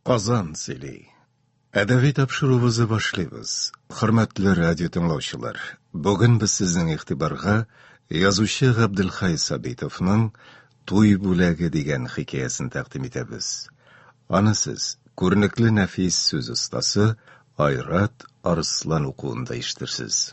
Казан сөйли. Әдәби тапшыруыбызы башлыйбыз. Хөрмәтле радио тыңлаучылар, бүген без сезнең игътибарга язучы Габделхай Сабитовның Туй бүләге дигән хикәясен тәкъдим итәбез. Аны сез күренекле нәфис сүз остасы Айрат Арслан укуында ишетерсез.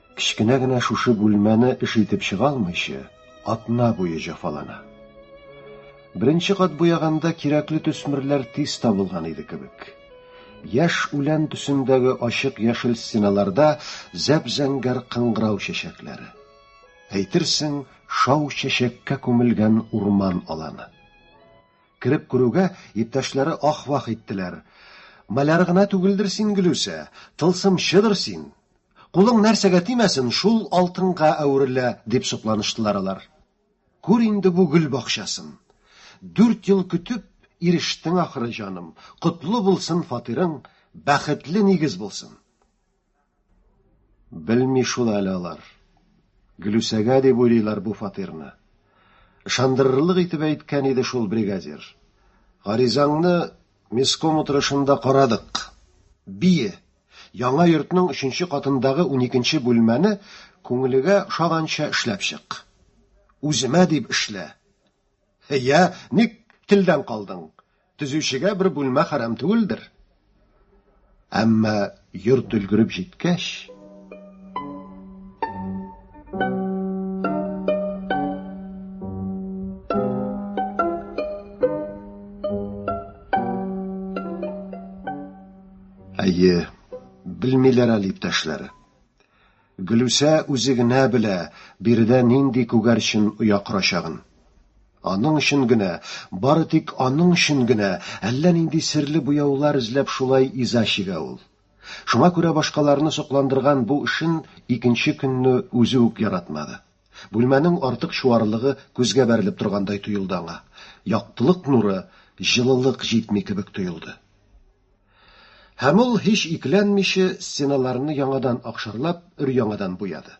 Кечкенә генә шушы бүлмәне эш итеп чыга алмыйча, атна буе җафалана. Беренче кат буяганда кирәкле төсмерләр тиз табылган иде кебек. Яшь үлән төсендәге ачык яшел стеналарда зәп-зәңгәр кыңгырау чәчәкләре. Әйтерсең, шау чәчәккә күмелгән урман аланы. Кереп күрүгә, иптәшләре ах-вах иттеләр. Маляр гына түгелдер син, Гөлүсә, тылсымчыдыр син! Кулың нәрсәгә тимәсен, шул алтынга әверелә, дип сокланыштылар алар. Күр инде бу гөл бакчасын. Дүрт ел көтеп, ирештең ахры, җаным. Котлы булсын фатирың, бәхетле нигез булсын. Белми шул әле алар. Гөлүсәгә дип уйлыйлар бу фатирны. Ышандырырлык итеп әйткән иде шул бригадир. Гаризаңны местком утырышында карадык. Бие. Яңа йортның өченче катындагы уникенче бүлмәне күңелегә ошаганча эшләп чык. Үземә дип эшлә. Йә, ник телдән калдың? Төзүчегә бер бүлмә хәрам түгелдер. Әмма йорт өлгереп җиткәч, Әйе, белмиләр әле иптәшләр. Гөлүсә үзе генә белә, биредә нинди күгәрчен оя корачагын. Аның өчен генә, бары тик аның өчен генә әллә нинди серле буяулар эзләп шулай иза чигә ул. Шуңа күрә башкаларны сокландырган бу эшен икенче көнне үзе үк яратмады. Бүлмәнең артык чуарлыгы күзгә бәрелеп торгандай тоелды аңа. Яктылык нуры, җылылык җитми кебек тоелды. Һәм ул, һич икеләнмичә, стеналарны яңадан акшарлап, өр-яңадан буяды.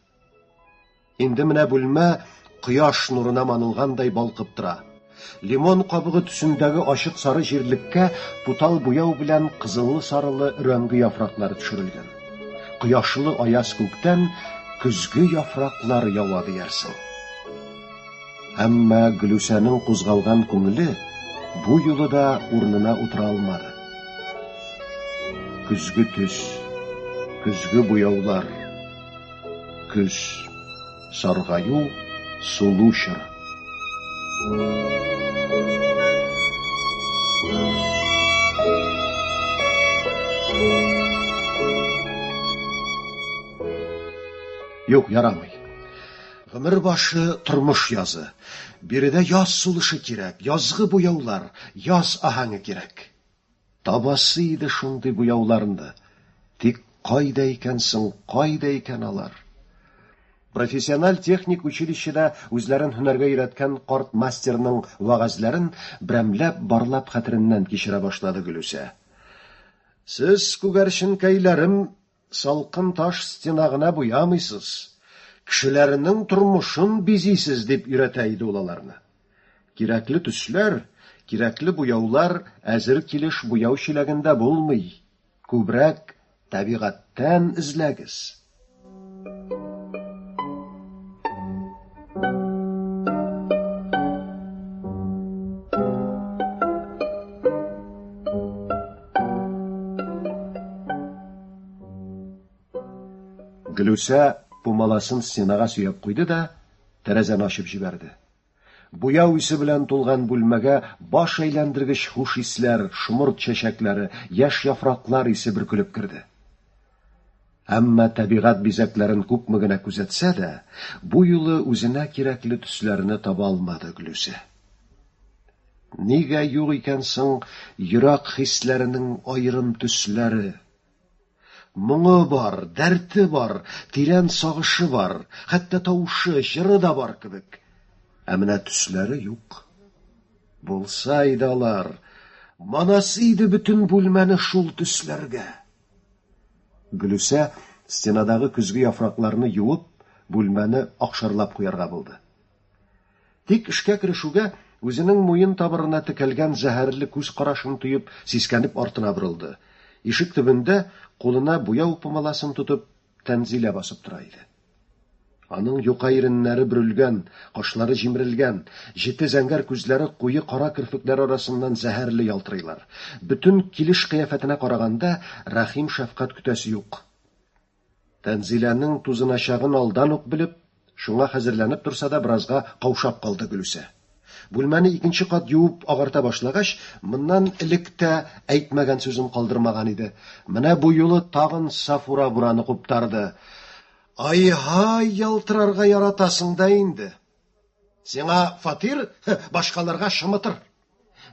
Инде менә бүлмә кояш нурына манылгандай балкып тора. Лимон кабыгы төсендәге ачык сары җирлеккә тутал буяу белән кызыллы-сарылы өрәңге яфраклары төшерелгән. Кояшлы аяз күктән көзге яфраклар ява диярсең. Әмма Гөлүсәнең кузгалган күңеле бу юлы да урынына утыра алмады. Көзге төс, көзге буяулар, көз, саргаю, сулу чоры. Юк, ярамый. Гомер башы тормыш язы. Биредә яз сулышы кирәк, язгы буяулар, яз аһәңе кирәк. Табасы иде шундый буяуларны. Тик кайда икән соң, кайда икән алар? Профессиональ техник училищеда үзләрен һөнәргә өйрәткән карт мастерның вәгазьләрен берәмләп барлап хәтереннән кичерә башлады Гөлүсә. Сез, күгәрченкәйләрем, Салкын таш стена гына буямыйсыз, кешеләрнең тормышын бизисез, дип өйрәтә иде ул аларны. Кирәкле төсләр, кирәкле буяулар әзер килеш буяу чиләгендә булмый, күбрәк табигатьтән эзләгез. Гөлүсә пумаласын стенага сөяп куйды да, тәрәзәне ачып җибәрде. Буяу исе белән тулган бүлмәгә баш әйләндергеч хуш исләр, шомырт чәчәкләре, яшь яфраклар исе бөркелеп керде. Әмма табигать бизәкләрен күпме генә күзәтсә дә, бу юлы үзенә кирәкле төсләрне таба алмады Гөлүсә. Нигә юк икән соң йөрәк хисләренең аерым төсләре? Моңы бар, дәрте бар, тирән сагышы бар, хәтта тавышы, җыры да бар кебек. Ә менә төсләре юк. Булса иде алар, манасы иде бөтен бүлмәне шул төсләргә. Гөлүсә, стенадагы көзге яфракларны юып, бүлмәне акшарлап куярга булды. Тик эшкә керешүгә, үзенең муен табырына текәлгән зәһәрле күз карашын тоеп, сискәнеп артына борылды. Ишек төбендә, кулына буяу помаласын тотып, Тәнзилә басып тора иде. Аның юка иреннәре бөрелгән, кашлары җимерелгән, җете зәңгәр күзләре куе кара керфекләр арасыннан зәһәрле ялтырыйлар. Бөтен килеш-кыяфәтенә караганда, рәхим-шәфкать көтәсе юк. Тәнзиләнең тузыначагын алдан ук белеп, Шуңа хәзерләнеп торса да, беразга каушап калды Гөлүсә. Бүлмәне икенче кат юып агарта башлагач, моннан элек тә әйтмәгән сүзен калдырмаган иде. Менә бу юлы тагын Сафура бураны куптарды. Ай-һай, ялтырарга яратасың да инде. Сиңа фатир, башкаларга шымытыр.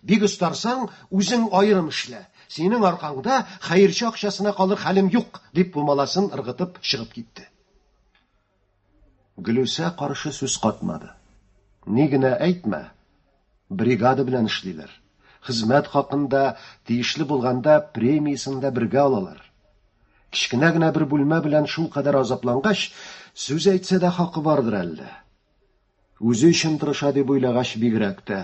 Бик остарсаң, үзең аерым эшлә. Синең аркаңда хәерче акчасына калыр хәлем юк, дип бу маласын ыргытып чыгып китте. Гөлүсә каршы сүз катмады. Ни генә әйтмә, бригада белән эшлиләр. Хезмәт хакын да, тиешле булганда, премиясен дә бергә алалар. Кечкенә генә бер бүлмә белән шулкадәр азаплангач, сүз әйтсә дә хакы бардыр әллә. Үзе өчен тырыша дип уйлагач бигрәк тә.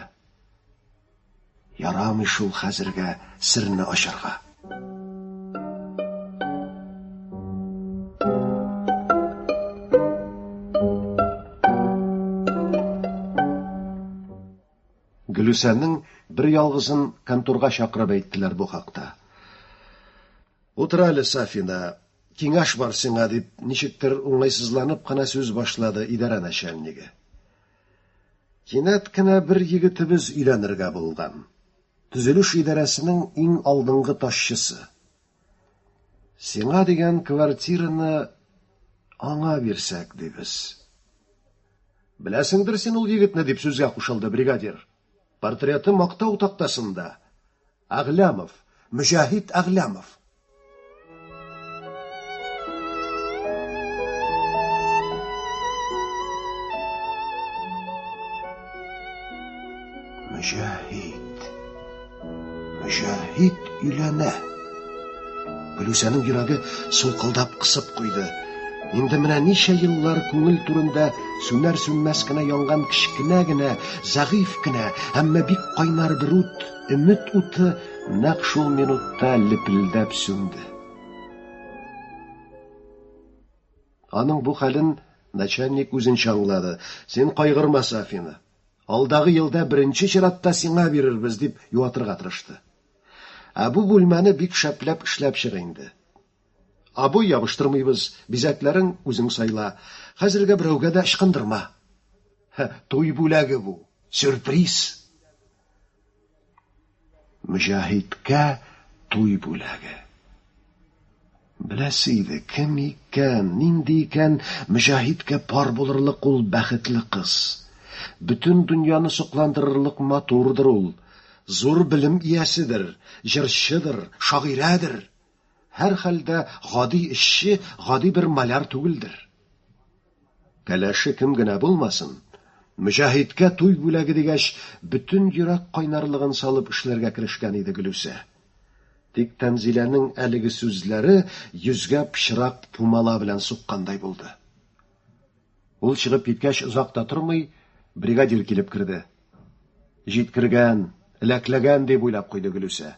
Ярамый шул хәзергә серне ачарга. Гөлүсәнең бер ялгызын конторга чакырып әйттеләр бу хакта. Утыр әле, Сафина. Киңәш бар сиңа, дип, ничектер уңайсызланып кына сүз башлады идарә начальнигы. Кинәт кенә бер егетебез өйләнергә булган. Төзелеш идарәсенең иң алдынгы ташчысы. Сиңа дигән квартираны аңа бирсәк, дибез. Беләсеңдер син ул егетне, дип сүзгә кушылды бригадир. Портреты мактау тактасында. Әгъләмов, Мөҗәһит Әгъләмов. Мөҗәһит. Мөҗәһит өйләнә. Гөлүсәнең йөрәге сулкылдап кысып куйды. Инде менә ничә еллар күңел түрендә сүнәр сүнмәс кенә янган кечкенә генә, зәгыйфь кенә, әмма бик кайнар бер ут Өмет уты нәкъ шул минутта лепелдәп сүнде. Аның бу хәлен начальник үзенчә аңлады. Син кайгырма, Сафина. Алдагы елда беренче чиратта сиңа бирербез, дип юатырга тырышты. Ә бу бүлмәне бик шәпләп эшләп чык инде. Абый, ябыштырмыйбыз, бизәкләрен үзең сайла. Хәзергә берәүгә дә ычкындырма. Һә, туй бүләге бу. Сюрприз. Мөҗәһидкә туй бүләге. Беләсе иде, кем икән, нинди икән Мөҗәһидкә пар булырлык ул бәхетле кыз. Бөтен дөньяны сокландырырлык матурдыр ул. Зур белем ияседер, җырчыдыр, шагыйрәдер. Һәрхәлдә, гади эшче, гади бер маляр түгелдер. Кәләше кем генә булмасын, Мөҗәһидкә туй бүләге дигәч, бөтен йөрәк кайнарлыгын салып эшләргә керешкән иде Гөлүсә. Тик Тәнзиләнең әлеге сүзләре йөзгә пычрак пумала белән суккандай булды. Ул чыгып киткәч, озак та тормый, бригадир килеп керде. Җиткергән, эләкләгән дип уйлап куйды Гөлүсә.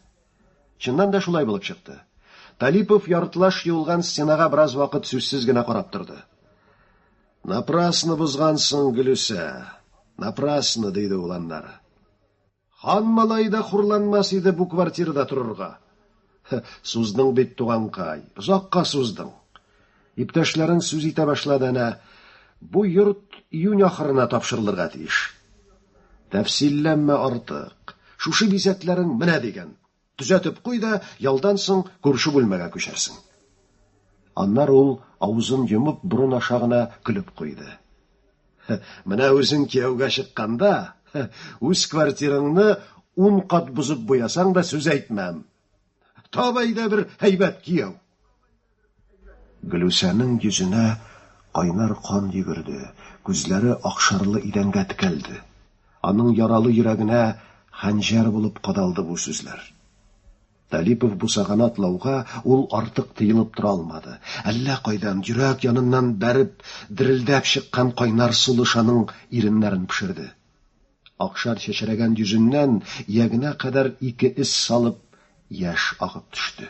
Чыннан да шулай булып чыкты. Талипов яртылаш юылган стенага бераз вакыт сүзсез генә карап торды. Напрасно бозгансың, Гөлүсә. Напрасно, диде ул аннары. Хан малай да хурланмас иде бу квартирада торырга. Суздың бит, туганкай, озакка суздың. Иптәшләрен сүз итә башлады әнә, Бу йорт июнь ахырына тапшырылырга тиеш. Тәфсилләмә артык. Шушы бизәкләрең менә диген. Төзәтеп куй да, ялдан соң күрше бүлмәгә күчәрсең. Аннары ул, авызын йомып, борын аша гына көлеп куйды. Менә үзең кияүгә чыкканда, үз квартираңны ун кат бозып буясаң да, сүз әйтмәм. Табай да бер һәйбәт кияү. Гөлүсәнең йөзенә кайнар кан йөгерде, күзләре акшарлы идәнгә текәлде. Аның яралы йөрәгенә хәнҗәр булып кадалды бу сүзләр. Талипов бусаганы атлауга ул артык тыелып тора алмады. Әллә кайдан, йөрәк яныннан бәреп, дерелдәп чыккан кайнар сулыш аның иреннәрен пешерде. Акшар чәчрәгән йөзеннән ягына кадәр ике эс салып яшь агып төште.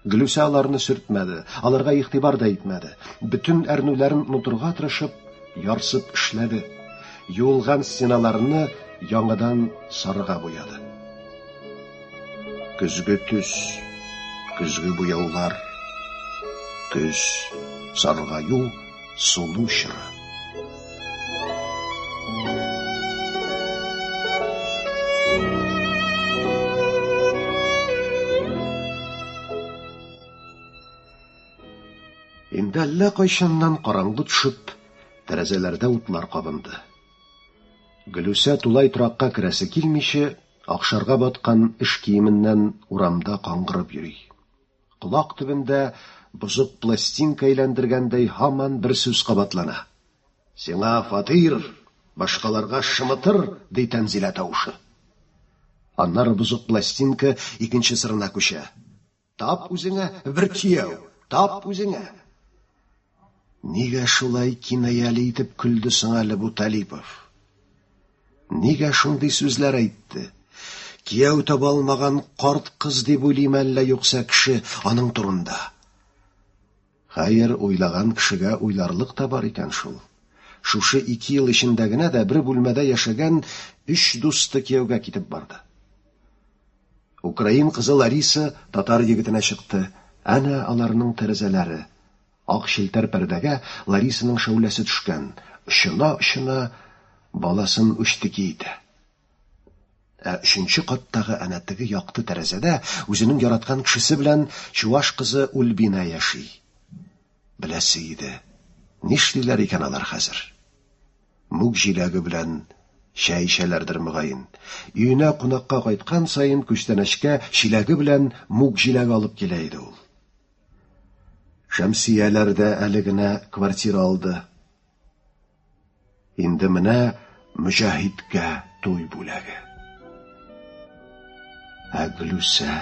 Глюсә аларны сөртмәде, аларга игътибар да итмәде. Бөтен әрнүләрен онытырга тырышып, ярсып эшләде. Юылган стеналарны яңадан сарыга буяды. Көзге төс, көзге буяулар, көз, саргаю, сулу чоры. Инде әллә кайчаннан караңгы төшеп, тәрәзәләрдә утлар кабынды. Гөлүсә тулай торакка керәсе килмичә, акшарга баткан эш киеменнән урамда каңгырып йөри. Колак төбендә бозык пластинка әйләндергәндәй һаман бер сүз кабатлана. Сиңа фатир, башкаларга шымытыр, ди Тәнзилә тавышы. Аннары бозык пластинка икенче сырына күчә. Тап үзеңә бер кияү, тап үзеңә! Нигә шулай кинаяле итеп көлде соң әле бу Талипов? Нигә шундый сүзләр әйтте? Кияү таба алмаган карт кыз дип уйлыйм әллә юкса кеше аның турында? Хәер, уйлаган кешегә уйларлык та бар икән шул. Шушы ике ел эчендә генә дә бер бүлмәдә яшәгән өч дусты кияүгә китеп барды. Украин кызы Лариса татар егетенә чыкты. Әнә аларның тәрәзәләре. Ак челтәр пәрдәгә Ларисаның шәүләсе төшкән, очына-очына баласын үчтеки итә. Ә өченче каттагы әнә теге якты тәрәзәдә үзенең яраткан кешесе белән чуваш кызы Ульбина яши. Беләсе иде, нишлиләр икән алар хәзер? Мүк җиләге белән чәй эчәләрдер, мөгаен. Өенә кунакка кайткан саен күчтәнәчкә чиләге белән мүк җиләге алып килә иде ул. Шәмсияләр дә әле генә квартира алды. Инде менә Мөҗәһиткә туй бүләге. Ә Гөлүсә...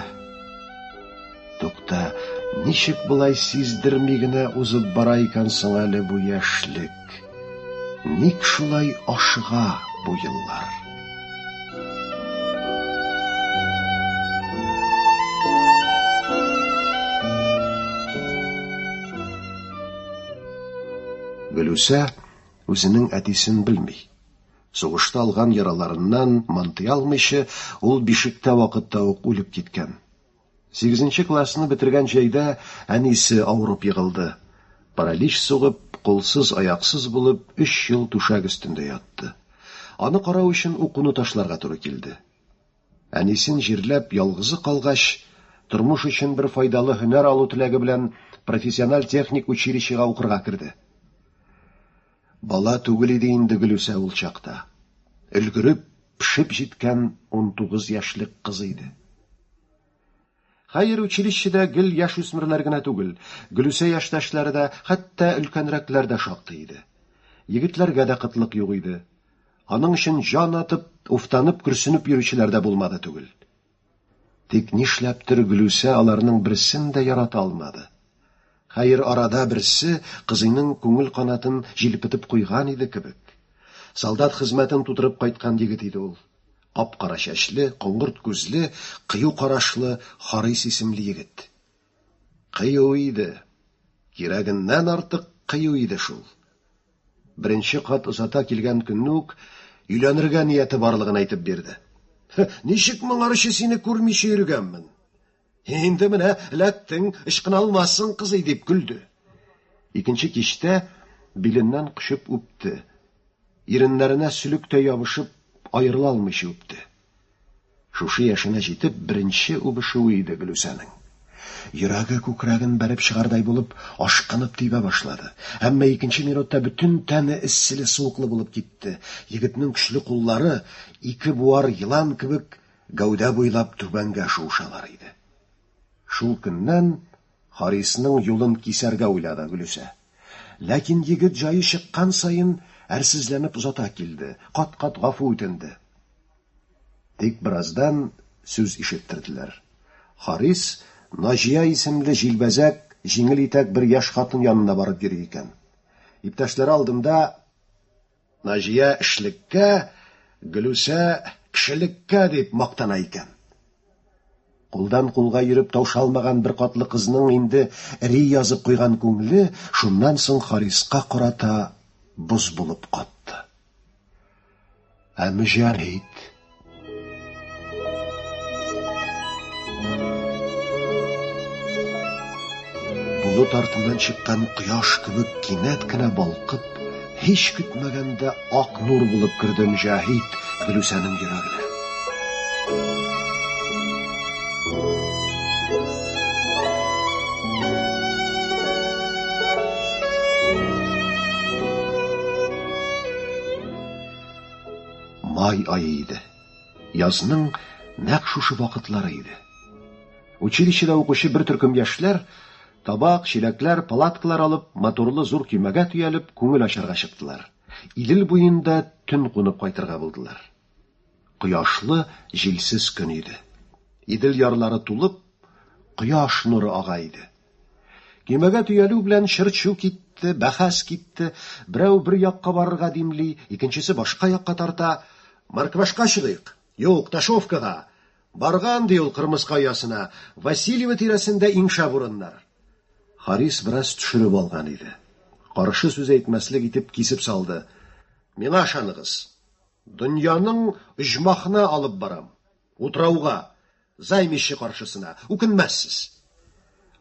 Тукта, ничек былай сиздерми генә узып бара икән соң әле бу яшьлек? Ник шулай ашыга бу еллар? Гөлүсә үзенең әтисен белми. Сугышта алган яраларыннан мантый алмыйча, ул бишектә вакытта ук үлеп киткән. Сигезенче классны бетергән җәйдә әнисе авырып егылды. Паралич сугып, кулсыз-аяксыз булып, өч ел түшәк өстендә ятты. Аны карау өчен укуны ташларга туры килде. Әнисен җирләп, ялгызы калгач, тормыш өчен бер файдалы һөнәр алу теләге белән профессиональ техник училищега укырга керде. Бала түгел иде инде Гөлүсә ул чакта. Өлгереп, пешеп җиткән унтугыз яшьлек кыз иде. Хәер, училищеда гел яшүсмерләр генә түгел, Гөлүсә яшьтәшләре дә, хәтта өлкәнрәкләр дә шактый иде. Егетләргә дә кытлык юк иде. Аның өчен җан атып, уфтанып-көрсенеп йөрүчеләр дә булмады түгел. Тик нишләптер Гөлүсә аларның берсен дә ярата алмады. Хәер, арада берсе кызыйның күңел канатын җилпетеп куйган иде кебек. Солдат хезмәтен тутырып кайткан егет иде ул. Кап-кара чәчле, коңгырт күзле, кыю карашлы Харис исемле егет. Кыю иде. Кирәгеннән артык кыю иде шул. Беренче кат озата килгән көнне үк өйләнергә нияте барлыгын әйтеп бирде. Ничек моңарчы сине күрмичә йөргәнмен? Инде менә эләктең, ычкыналмассың, кызый, дип көлде. Икенче кичтә биленнән кочып үпте. Иреннәренә сөлектәй ябышып, аерыла алмыйча үпте. Шушы яшенә җитеп, беренче үбешүе иде Гөлүсәнең. Йөрәге күкрәген бәреп чыгардай булып, ашкынып тибә башлады. Әмма икенче минутта бөтен тәне эсселе-суыклы булып китте, егетнең көчле куллары ике буар елан кебек гәүдә буйлап түбәнгә шуышалар иде. Шул көннән Харисның юлын кисәргә уйлады Гөлүсә. Ләкин егет җае чыккан саен әрсезләнеп озата килде, кат-кат гафу үтенде. Тик бераздан сүз ишеттерделәр. Харис, Наҗия исемле җилбәзәк, җиңел итәк бер яшь хатын янына барып йөри икән. Иптәшләре алдында Наҗия эшлеккә, Гөлүсә, кешелеккә дип мактана икән. Кулдан-кулга йөреп таушалмаган беркатлы кызның инде ри язып куйган күңеле шуннан соң Хариска карата боз булып катты. Ә мөҗәһит болыт артыннан чыккан кояш кебек кинәт кенә балкып, һич көтмәгәндә ак нур булып керде Мөҗәһит Гөлүсәнең йөрәгенә. Май айы иде. Язның нәкъ шушы вакытлары иде. Училищеда укучы бер төркем яшьләр табак, чиләкләр, палаткалар алып, моторлы зур көймәгә төялеп, күңел ачарга чыктылар. Идел буенда төн кунып кайтырга булдылар. Кояшлы, җилсез көн иде. Идел ярлары тулып, кояш нуры ага иде. Көймәгә төялү белән чырчу китте, бәхәс китте. Берәү бер якка барырга димли, икенчесе башка якка тарта. Марквашка чыгыйк. Юк, Ташовкага. Барган, ди ул Кырмыска оясына. Васильево тирәсендә иң шәп урыннар. Харис бераз төшереп алган иде. Каршы сүз әйтмәслек итеп кисеп салды. Миңа ышаныгыз. Дөньяның оҗмахына алып барам. Утрауга. Займище каршысына. Үкенмәссез.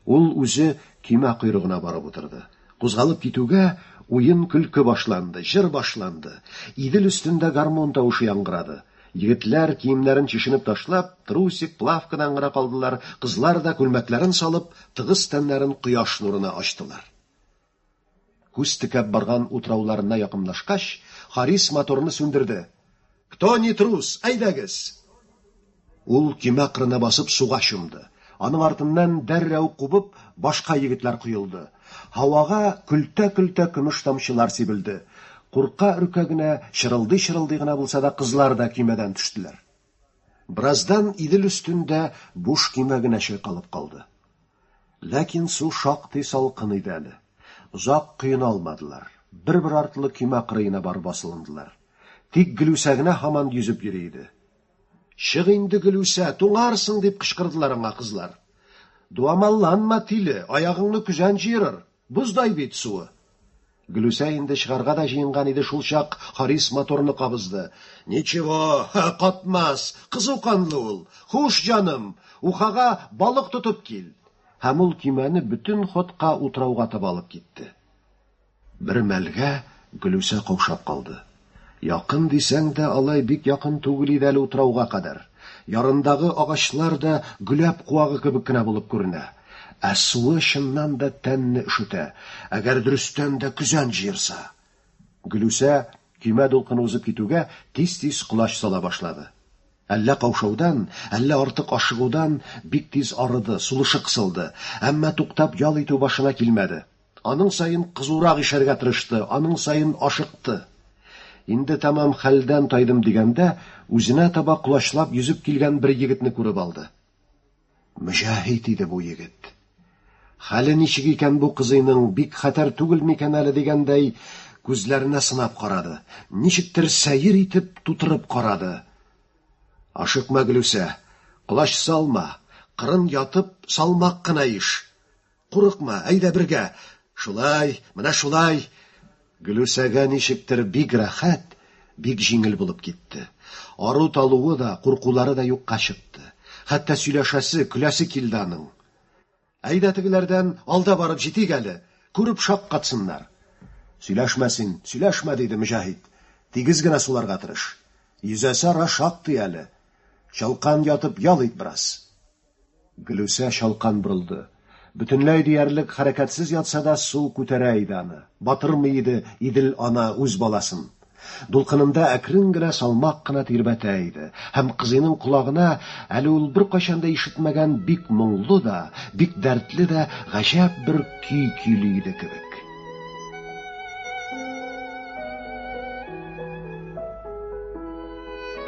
Ул үзе көймә койрыгына барып утырды. Кузгалып китүгә, уен-көлке башланды, җыр башланды. Идел өстендә гармун тавышы яңгырады. Егетләр, киемнәрен чишенеп ташлап, трусик, плавкадан гына калдылар, кызлар да, күлмәкләрен салып, тыгыз тәннәрен кояш нурына ачтылар. Күз текәп барган утрауларына якынлашкач, Харис моторны сүндерде. Кто не трус, әйдәгез! Ул көймә кырына басып суга чумды. Аның артыннан дәррәү кубып башка егетләр коелды. Һавага көлтә-көлтә көмеш тамчылар сибелде. Курка-өркә генә, чырылдый-чырылдый гына булса да кызлар да көймәдән төштеләр. Бераздан Идел өстендә буш көймә генә чайкалып калды. Ләкин су шактый салкын иде әле. Озак коена алмадылар. Бер-бер артлы көймә кырыена барып асылындылар. Тик Гөлүсә генә һаман йөзеп йөри иде. Чык инде, Гөлүсә, туңарсың, дип кычкырдылар аңа кызлар. Дуамалланма, тиле, аягыңны көзән җыерыр. Боздай бит суы. Гөлүсә инде чыгарга да җыенган иде шулчак Харис моторны кабызды. Ничего, катмас, кызу канлы ул. Хуш, җаным, Ухага балык тотып кил. Һәм ул көймәне бөтен ходка утрауга таба алып китте. Бер мәлгә Гөлүсә каушап калды. Якын дисәң дә, алай бик якын түгел иде әле утрауга кадәр. Ярындагы агачлар да гөләп куагы кебек кенә булып күренә. Ә суы чыннан да тәнне өшетә, әгәр дөрестән дә көзән җыерса. Гөлүсә, көймә дулкыны узып китүгә, тиз-тиз колач сала башлады. Әллә каушаудан, әллә артык ашыгудан бик тиз арыды, сулышы кысылды, әмма туктап ял итү башына килмәде. Аның саен кызурак ишәргә тырышты, аның саен ашыкты. Инде тәмам хәлдән тайдым дигәндә, үзенә таба колачлап йөзеп килгән бер егетне күреп алды. Мөҗәһит иде бу егет. Хәле ничек икән бу кызыйның, бик хәтәр түгел микән әле дигәндәй, күзләренә сынап карады. Ничектер сәер итеп тутырып карады. Ашыкма, Гөлүсә, колач салма, кырын ятып, салмак кына иш. Курыкма, әйдә бергә. Шулай, менә шулай. Гөлүсәгә ничектер бик рәхәт, бик җиңел булып китте. Ару-талуы да, куркулары да юкка чыкты. Хәтта сөйләшәсе, көләсе килде аның. Әйдә тегеләрдән алда барып җитик әле, күреп шаккатсыннар. Сөйләшмә син, сөйләшмә, диде Мөҗәһит. Тигез генә суларга тырыш. Йөзәсе ара шактый әле. Чалкан ятып ял ит бераз. Гөлүсә чалкан борылды. Бөтенләй диярлек хәрәкәтсез ятса да, су күтәрә иде аны. Батырмый иде Идел ана үз баласын. Дулкынында әкрен генә, салмак кына тирбәтә иде. Һәм кызыйның колагына әле ул беркайчан да ишетмәгән бик моңлы да, бик дәртле дә гаҗәп бер көй көйли иде кебек.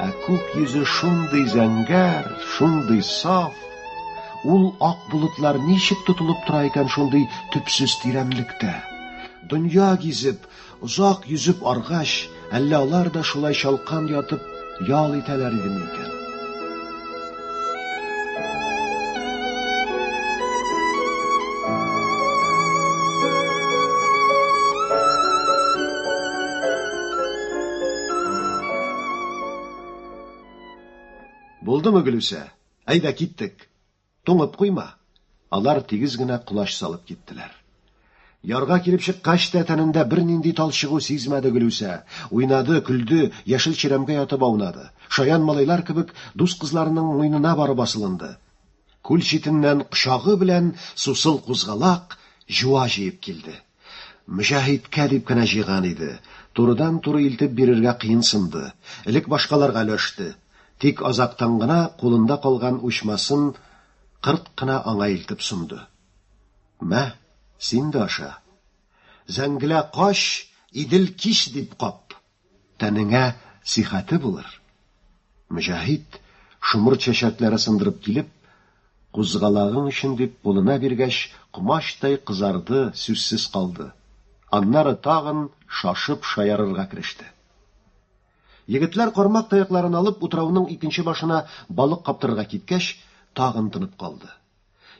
Ә күк йөзе шундый зәңгәр, шундый саф, ул ак болытлар ничек тотылып тора икән шундый төпсез тирәнлектә? Дөнья гизеп, озак йөзеп аргач, Әллә алар да шулай чалкан ятып ял итәләр идеме икән? Булдымы, Гөлүсә? Әйдә, киттек. Туңып куйма! Алар тигез генә колач салып киттеләр. Ярга килеп чыккач та тәнендә бернинди талчыгу сизмәде Гөлүсә. Уйнады, көлде, яшел чирәмгә ятып аунады. Шаян малайлар кебек дус кызларының муйнына барып асылынды. Күл читеннән кочагы белән сусыл кузгалак, җуа җыеп килде. Мөҗәһидкә дип кенә җыйган иде. Турыдан-туры илтеп бирергә кыенсынды. Элек башкаларга өләште. Тик азактан гына кулында калган учмасын кырт кына аңа илтеп сунды. Мә, син дә аша. Зәңгелә кач, Идел кич дип кап! Тәнеңә сихәте булыр. Мөҗәһит, шомырт чәчәкләре сындырып килеп, кузгалагың өчен дип кулына биргәч, комачтай кызарды, сүзсез калды. Аннары тагын шашып шаярырга кереште. Егетләр кармак таякларын алып утрауның икенче башына балык каптырырга киткәч, тагын тынып калды.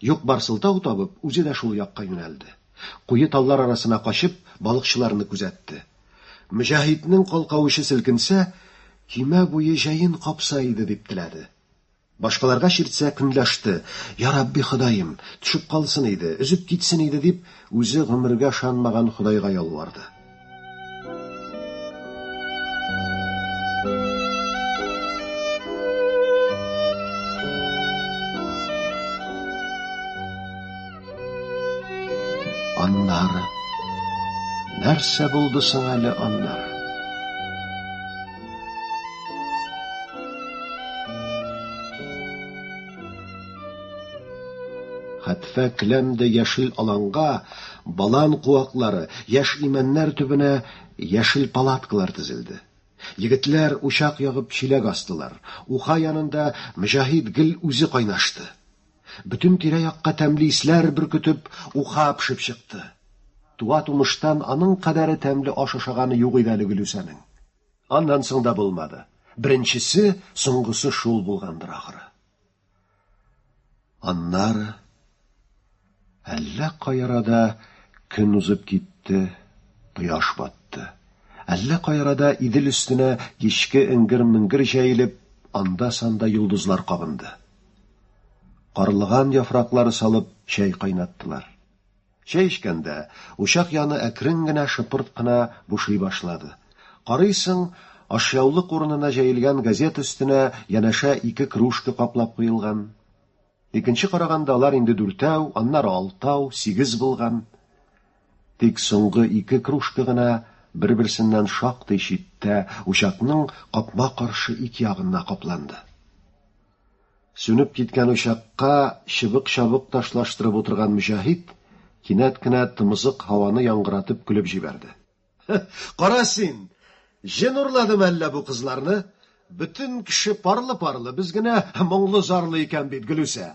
Юк-бар сылтау табып, үзе дә шул якка юнәлде. Куе таллар арасына качып, балыкчыларны күзәтте. Мөҗәһитнең калка учы селкенсә, көймә буе җәен капса иде, дип теләде. Башкаларга чиртсә, көнләште, Ярабби Ходаем, төшеп калсын иде, өзеп китсен иде, дип, үзе гомергә ышанмаган Ходайга ялварды. Аннары нәрсә булды соң әле аннар? Хәтфә келәмдә яшел аланга Балан куаклары, яшь имәннәр төбенә яшел палаткалар тезелде. Егетләр, учак ягып, чиләк астылар. Уха янында Мөҗаһит гел үзе кайнашты. Бөтен тирә-якка тәмле исләр бөркетеп, уха пешеп чыкты. Туа-тумыштан аның кадәре тәмле аш ашаганы юк иде әле Гөлүсәнең. Аннан соң да булмады. Беренчесе, соңгысы шул булгандыр, ахры. Аннары әллә кай арада көн узып китте, кояш батты. Әллә кай арада Идел өстенә кичке эңгер-меңгер җәелеп, анда-санда йолдызлар кабынды. Карлыган яфраклары салып чәй кайнаттылар. Чәй эчкәндә, учак яны әкрен генә шыпырт кына бушый башлады. Карыйсың, ашъяулык урынына җәелгән газета өстенә янәшә ике кружка каплап куелган. Икенче караганда алар инде дүртәү, аннары алтау, сигез булган. Тик соңгы ике кружка гына бер-берсеннән шактый читтә, учакның капма-каршы ик ягына капланды. Сүнеп киткән учакка чыбык-чабык ташлаштырып утырган Мөҗәһит кинәт кенә тымызык һаваны яңгыратып көлеп җибәрде. Кара син! Җен урладымы әллә бу кызларны? Бөтен кеше парлы-парлы, без генә моңлы-зарлы икән бит, Гөлүсә!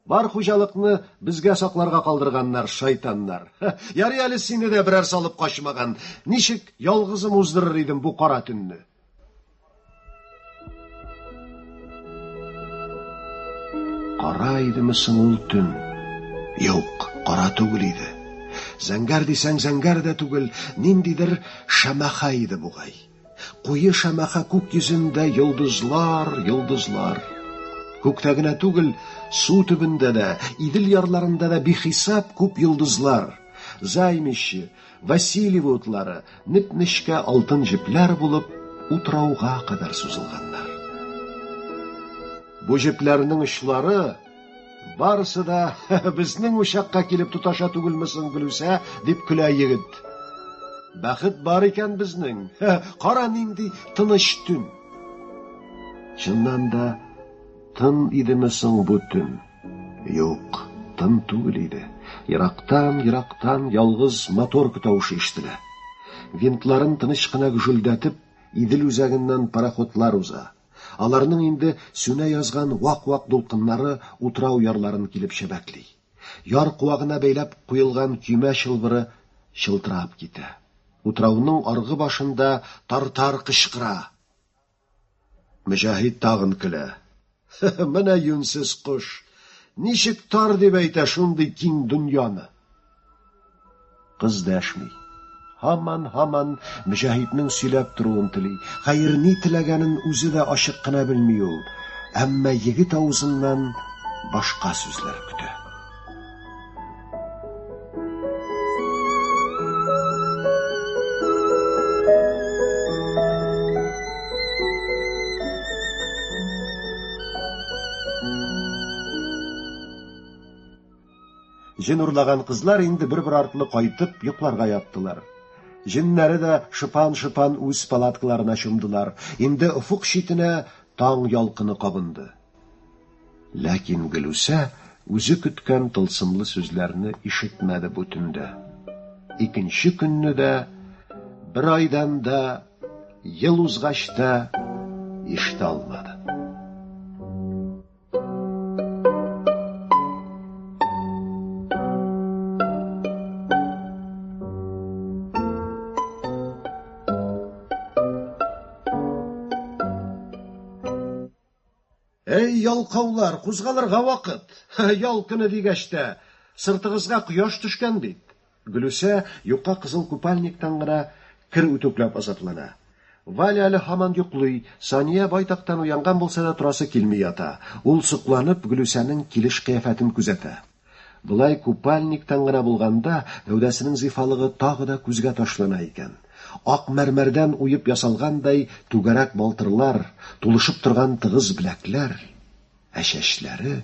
Бар хуҗалыкны безгә сакларга калдырганнар, шайтаннар. Ярый әле сине дә берәр салып качмаган. Ничек ялгызым уздырыр идем бу кара төнне? Кара идеме соң ул төн? Юк, кара түгел иде. Зәңгәр дисәң зәңгәр дә түгел, ниндидер шәмәхә иде бугай. Куе шәмәхә күк йөзендә йолдызлар, йолдызлар. Күктә генә түгел, су төбендә дә, Идел ярларында да бихисап күп йолдызлар. Займище, Васильево утлары, неп-нечкә алтын җепләр булып, утрауга кадәр сузылганнар. Бу җепләрнең очлары, Барысы да безнең учакка килеп тоташа түгелме соң, Гөлүсә, дип көлә егет. Бәхет бар икән безнең. Кара нинди тыныч төн. Чыннан да тын идеме соң бу төн? Юк, тын түгел иде. Ерактан, ерактан ялгыз моторка тавышы ишетелә. Винтларын тыныч кына гүжелдәтеп, Идел үзәгеннән пароходлар уза. Аларның инде сүнә язган вак-вак дулкыннары утрау ярларын килеп чәбәкли. Яр куагына бәйләп куелган көймә чылбыры чылтырап китә. Утрауның аргы башында тартар кычкыра. Мөҗәһит тагын көлә. Менә юньсез кош! Ничек тар дип әйтә шундый киң дөньяны? Кыз дәшми. Һаман-һаман Мөҗәһитнең сөйләп торуын тели. Хәер, ни теләгәнен үзе дә ачык кына белми ул. Әмма егет авызыннан башка сүзләр көтә. Җен урлаган кызлар инде бер-бер артлы кайтып йокларга яттылар. Җеннәре дә шыпан-шыпан үз палаткаларына чумдылар. Инде офык читенә таң ялкыны кабынды. Ләкин Гөлүсә үзе көткән тылсымлы сүзләрне ишетмәде бу төндә. Икенче көнне дә, бер айдан да, ел узгач та ишетә алмады. Әй, ялкаулар, кузгалырга вакыт. Ял көне дигәч тә, сыртыгызга кояш төшкән бит. Гөлүсә юка кызыл купальниктан гына кер үтүкләп азаплана. Валя әле һаман йоклый, Сания байтактан уянган булса да торасы килми ята. Ул сокланып Гөлүсәнең килеш кыяфәтен күзәтә. Болай купальниктан гына булганда гәүдәсенең зифалыгы тагы да күзгә ташлана икән. Ак мәрмәрдән уеп ясалгандай түгәрәк балтырлар, тулышып торган тыгыз беләкләр. Ә чәчләре.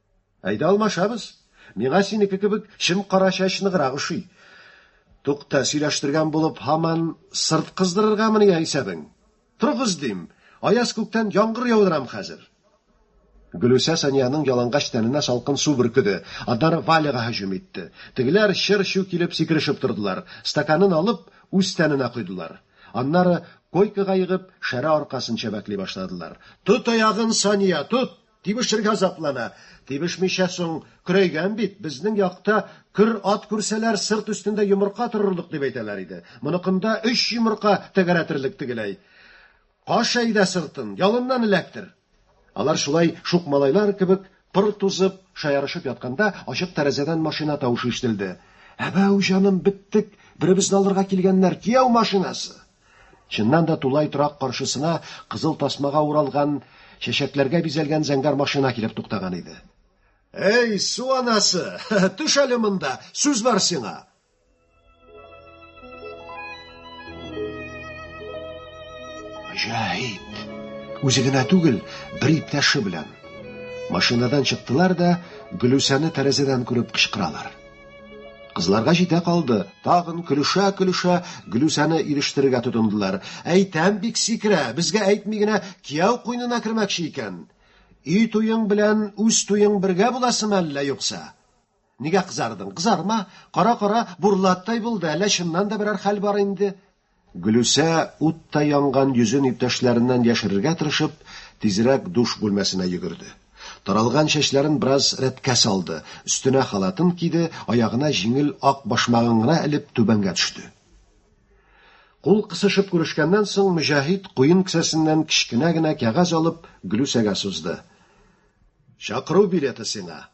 Әйдә алмашабыз. Миңа синеке кебек чем кара чәч ныграк ошый. Тукта, сөйләштергән булып, һаман сырт кыздырыргамыни я исәбең? Торыгыз, дим! Аяз күктән яңгыр яудырам хәзер! Гөлүсә Саниянең ялангач тәненә салкын су бөркеде, аннары Валяга һөҗүм итте. Тегеләр чыр-чу килеп сикерешеп тордылар, стаканын алып, үз тәненә койдылар. Аннары, койкага егып, шәрә аркасын чәбәкли башладылар. Тот аягын, Сания, тот! Тибешергә заплана. Тибешмичә соң, көрәйгән бит, безнең якта көр ат күрсәләр, сырт өстендә йомырка торырлык дип әйтәләр иде. Моныкында өч йомырка тәгәрәтерлек тегеләй. Каш әйдә сыртын, ялыннан эләктер! Алар шулай шук малайлар кебек пыр тузып, шаярышып ятканда, ачык тәрәзәдән машина тавышы ишетелде. Әбәү, җаным, беттек! Беребезне алырга килгәннәр, кияү машинасы! Чыннан да тулай торак каршысына кызыл тасмага уралган, чәчәкләргә бизәлгән зәңгәр машина килеп туктаган иде. Әй, су анасы, төш әле монда, сүз бар сиңа. Җәһит! Үзе генә түгел, бер иптәше белән. Машинадан чыктылар да, Гөлүсәне тәрәзәдән күреп кычкыралар. Кызларга җитә калды. Тагын көлешә-көлешә Глүсәне ирештерергә тотындылар. Әйтәм бик сикерә, безгә әйтми генә кияү куенына кермәкче икән. Өй туең белән үз туең бергә буласымы әллә юкса? Нигә кызардың? Кызарма. Кара-кара, бурлаттай булды, әллә чыннан да берәр хәл бар инде? Гөлүсә, уттай янган йөзен иптәшләреннән яшерергә тырышып, тизрәк душ бүлмәсенә йөгерде. Таралган чәчләрен бераз рәткә салды, өстенә халатын киде, аягына җиңел ак башмагын гына элеп, түбәнгә төште. Кул кысышып күрешкәннән соң, Мөҗәһит, куен кесәсеннән кечкенә генә кәгазь алып, Гөлүсәгә сузды. Чакыру билеты сиңа.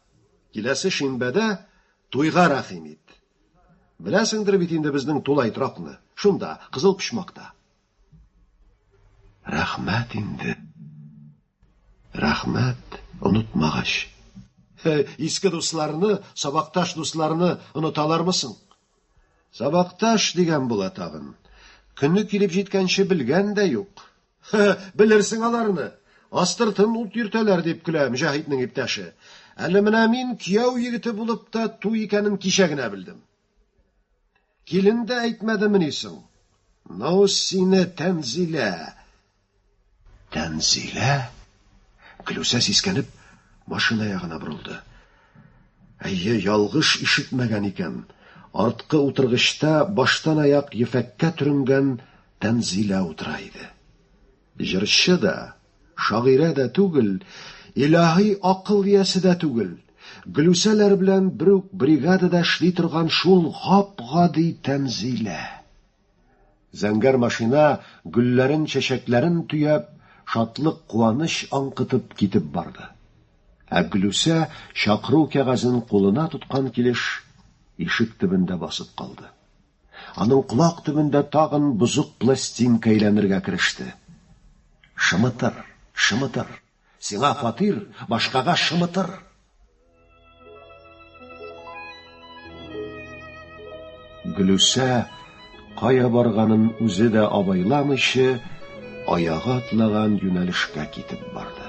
Киләсе шимбәдә туйга рәхим ит. Беләсеңдер бит инде безнең тулай торакны. Шунда, Кызыл Почмакта. Рәхмәт инде. Рәхмәт, онытмагач. Иске дусларны, сабакташ дусларны оныталармы соң? Сабакташ дигән була тагын. Көне килеп җиткәнче белгән дә юк. Белерсең аларны. Астыртын ут йөртәләр, дип көлә Мөҗәһитнең иптәше. Әле менә мин кияү егете булып та ту икәнен кичә генә белдем. Килен дә әйтмәдемени соң? Ну, сине, Тәнзилә. Тәнзилә? Гөлүсә сискәнеп, машина ягына борылды. Әйе, ялгыш ишетмәгән икән. Арткы утыргычта баштан аяк ефәккә төренгән Тәнзилә утыра иде. Җырчы да, шагыйрә дә түгел, илаһи акыл иясе дә түгел, Гөлүсәләр белән бер үк бригадада эшли торган шул гап-гади Тәнзилә. Зәңгәр машина, гөлләрен, чәчәкләрен төяп, шатлык, куаныч аңкытып китеп барды. Ә Гөлүсә, чакыру кәгазен кулына тоткан килеш, ишек төбендә басып калды. Аның колак төбендә тагын бозык пластинка әйләнергә кереште. Шымытыр, шымытыр. Сиңа фатир, башкага шымытыр. Гөлүсә кая барганын үзе дә абайламыйча, аягы атлаган юнәлешкә китеп барды.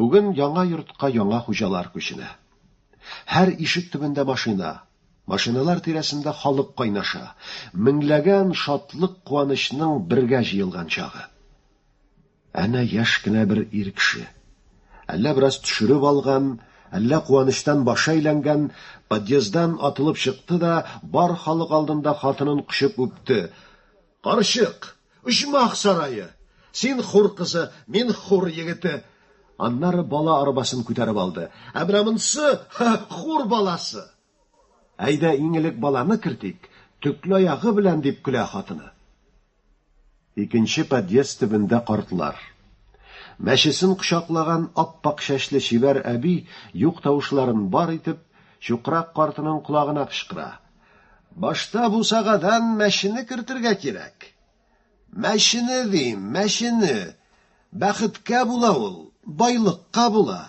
Бүген яңа йортка яңа хуҗалар күченә. Һәр ишек төбендә машина, машиналар тирәсендә халык кайнаша, меңләгән шатлык-куанычның бергә җыелган чагы. Әнә яшь кенә бер ир кеше, әллә бераз төшереп алган, әллә куанычтан башы әйләнгән, подъезддан атылып чыкты да, бар халык алдында хатынын кочып үпте. Карчык, оҗмах сарае! Син хур кызы, мин хур егете! Аннары бала арбасын күтәреп алды. Ә менә монсы, хур баласы! Әйдә, иң элек баланы кертик, төкле аягы белән, дип көлә хатыны. Икенче подъезд төбендә картлар. Мәчесен кочаклаган ап-ак чәчле чибәр әби, юк тавышларын бар итеп, чукрак картының колагына кычкыра, Башта бусагадан мәчене кертергә кирәк. Мәчене дим, мәчене! Бәхеткә була ул, байлыкка була.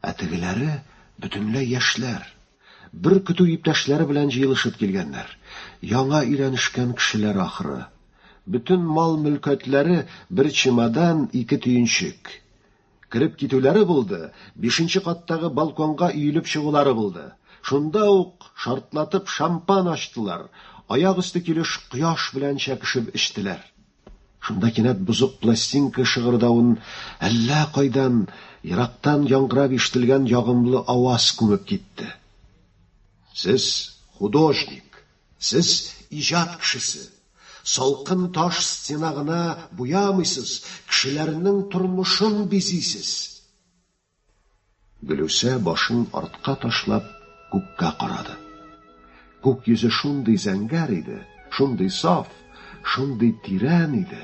Ә тегеләре бөтенләй яшьләр. Бер көтү иптәшләре белән җыелышып килгәннәр. Яңа өйләнешкән кешеләр ахры. Бөтен мал-мөлкәтләре бер чемодан, ике төенчек. Кереп китүләре булды, бишенче каттагы балконга өелеп чыгулары булды. Шунда ук шартлатып шампан ачтылар, аяк өсте килеш кояш белән чәкешеп эчтеләр. Шунда кинәт бозык пластинка шыгырдавын әллә кайдан, ерактан яңгырап ишетелгән ягымлы аваз күмеп китте. Сез, художник! Сез, иҗат кешесе! Салкын таш стена гына буямыйсыз, кешеләрнең тормышын бизисез. Гөлүсә башын артка ташлап күккә карады. Күк йөзе шундый зәңгәр иде, шундый саф, шундый тирән иде.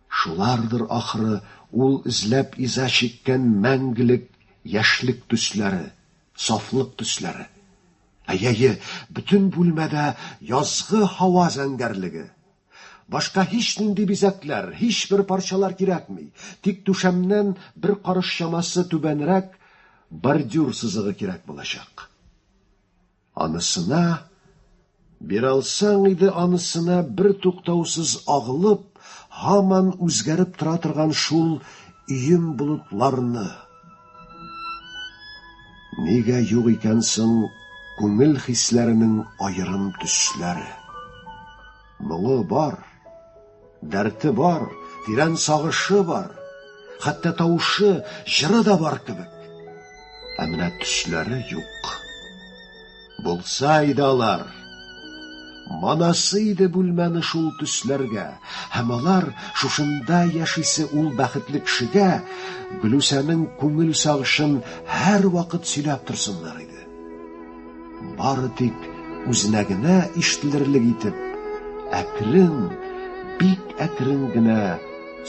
Шулардыр, ахры, ул эзләп иза чиккән мәңгелек яшьлек төсләре, сафлык төсләре. Әйәе, бөтен бүлмәдә язгы һава зәңгәрлеге. Башка һичнинди бизәкләр, һичбер парчалар кирәкми, тик түшәмнән бер карыш чамасы түбәнрәк бордюр сызыгы кирәк булачак. Анысына, биралсаң иде анысына бер туктаусыз агылып, һаман үзгәреп тора торган шул ием болытларны. Нигә юк икән соң күңел хисләренең аерым төсләре? Моңы бар. Дәрте бар, тирән сагышы бар. Хәтта тавышы, җыры да бар кебек. Ә менә төсләре юк. Булса иде алар. Манасы иде бүлмәне шул төсләргә. Һәм алар шушында яшисе ул бәхетле кешегә Гөлүсәнең күңел сагышын һәрвакыт сөйләп торсыннар иде. Бары тик үзенә генә ишетелерлек итеп, әкрен, бик әкрен генә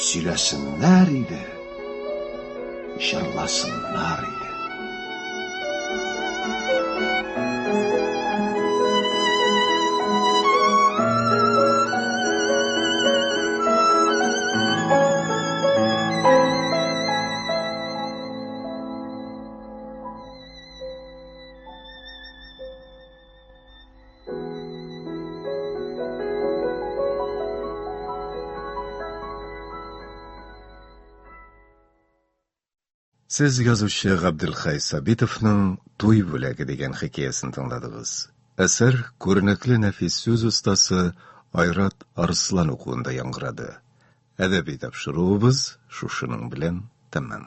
сөйләсеннәр иде, җырласыннар иде. Сез язучы Габделхай Сабитовның Туй бүләге дигән хикәясен тыңладыгыз. Әсәр күренекле нәфис сүз остасы Айрат Арслан укуында яңгырады. Әдәби тапшыруыбыз шушының белән тәмам.